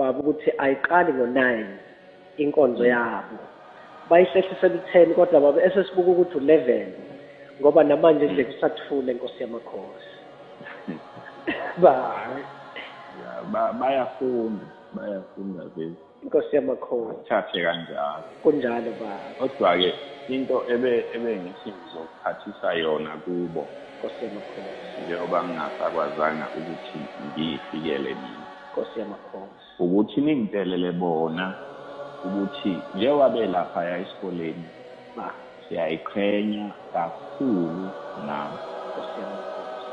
baba ukuthi ayiqali ngo-9 inkonzo yabo bayihlehlisela u-10 kodwa baba esesibuka ukuthi u-11 ngoba namanje nje kusathule nkosi yamakhosi ba bayafunda bayafunda vele inkosi yamakhosi thathe kanjalo kunjalo ba kodwa-ke into ebe ebe ngithi ngizokuphathisa yona kubo nkosi yamakhosi njengoba ngingasakwazanga ukuthi ngiyifikele mina Nkosi yamakhosi. Ukuthi ningitshelele bona ukuthi njengoba belaphaya esikoleni ba siyayiqhenya kakhulu ngabo. Nkosi yamakhosi.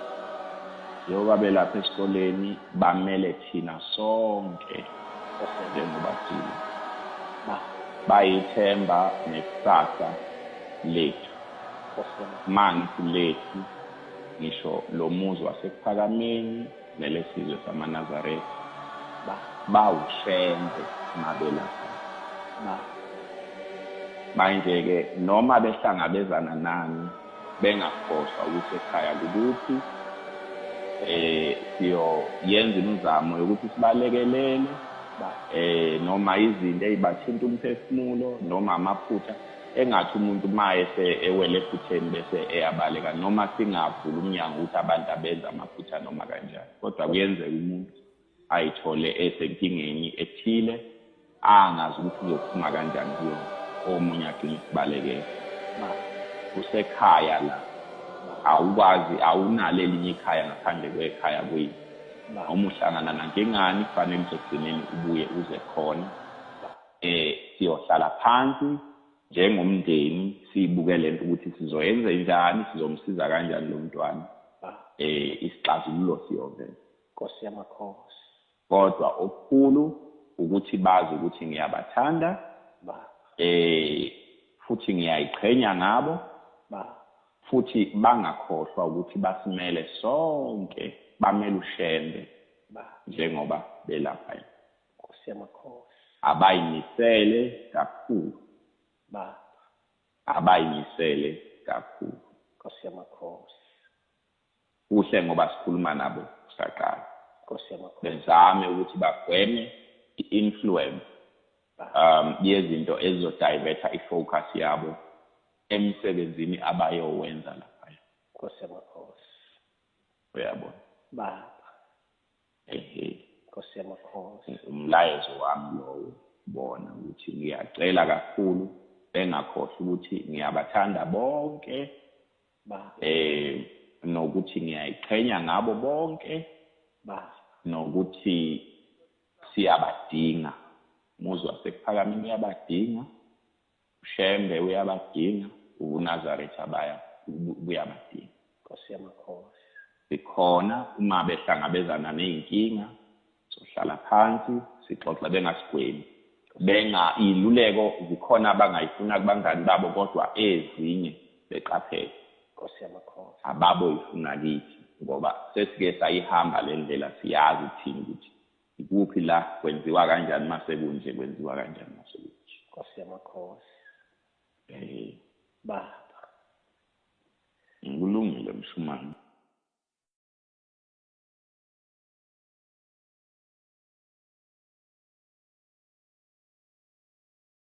Njengoba belapha esikoleni bamele thina sonke njengoba thina. Ba bayithemba nekusasa lethu. Nkosi yamakhosi. Mangithi lethu ngisho lo muzi wasekuPhakameni nelesizwe samaNazaretha ba bawushembe mabelapha ba manje-ke noma behlangabezana nani bengakhohlwa ukuthi ekhaya kukuphi eh siyoyenza imizamo yokuthi sibalekelele eh noma izinto ezibathinta umphefumulo noma amaphutha Engathi umuntu uma ese ewele ephutheni bese eyabaleka noma singavula umnyango ukuthi abantu abenza amaphutha noma kanjani kodwa kuyenzeka umuntu ayithole esenkingeni ethile angazi ukuthi uzophuma kanjani kuyona omunye agcine isibalekela usekhaya la awukwazi awunalo elinye ikhaya ngaphandle kwekhaya kwini noma uhlangana nankingani kufanele uzogcineni ubuye uze khona Eh siyohlala phansi njengomndeni sibuke lento ukuthi sizoyenza njani sizomsiza kanjani lo mntwana ah. eh isixazululo siyovela Nkosi yamakhosi kodwa okukhulu ukuthi bazi ukuthi ngiyabathanda ba eh futhi ngiyayiqhenya ngabo ba futhi bangakhohlwa ukuthi basimele sonke bamele ushembe ba njengoba belapha Nkosi yamakhosi. Abayimisele kakhulu. Baba. Abayimisele kakhulu. Nkosi yamakhosi. Kuhle ngoba sikhuluma nabo kusaqala. Nkosi yamakhosi. Bezame ukuthi bagweme i-influence um yezinto ezizodivertha i-focus yabo emsebenzini abayowenza laphaya. Nkosi yamakhosi. Uyabona. Baba. Nkosi yamakhosi. Umlayezo wami lowo bona ukuthi ngiyacela kakhulu bengakhohlwa ukuthi ngiyabathanda bonke eh nokuthi ngiyayiqhenya ngabo bonke nokuthi siyabadinga muzwa sekuphakama niyabadinga UShembe uyabadinga, ubuNazaretha abaya buyabadinga. Nkosi yamakhosi. Sikhona uma behlangabezana nezinkinga sohlala phansi sixoxe bengasigwemi. Benga iluleko zikhona abangayifuna kubangani babo kodwa ezinye beqaphele. Nkosi yamakhosi. Ababo ifuna kithi ngoba sesike sayihamba lendlela siyazi thina ukuthi ikuphi la kwenziwa kanjani uma sekunje kwenziwa kanjani uma sekunje nkosi yamakhosi um baba kulungile mshumane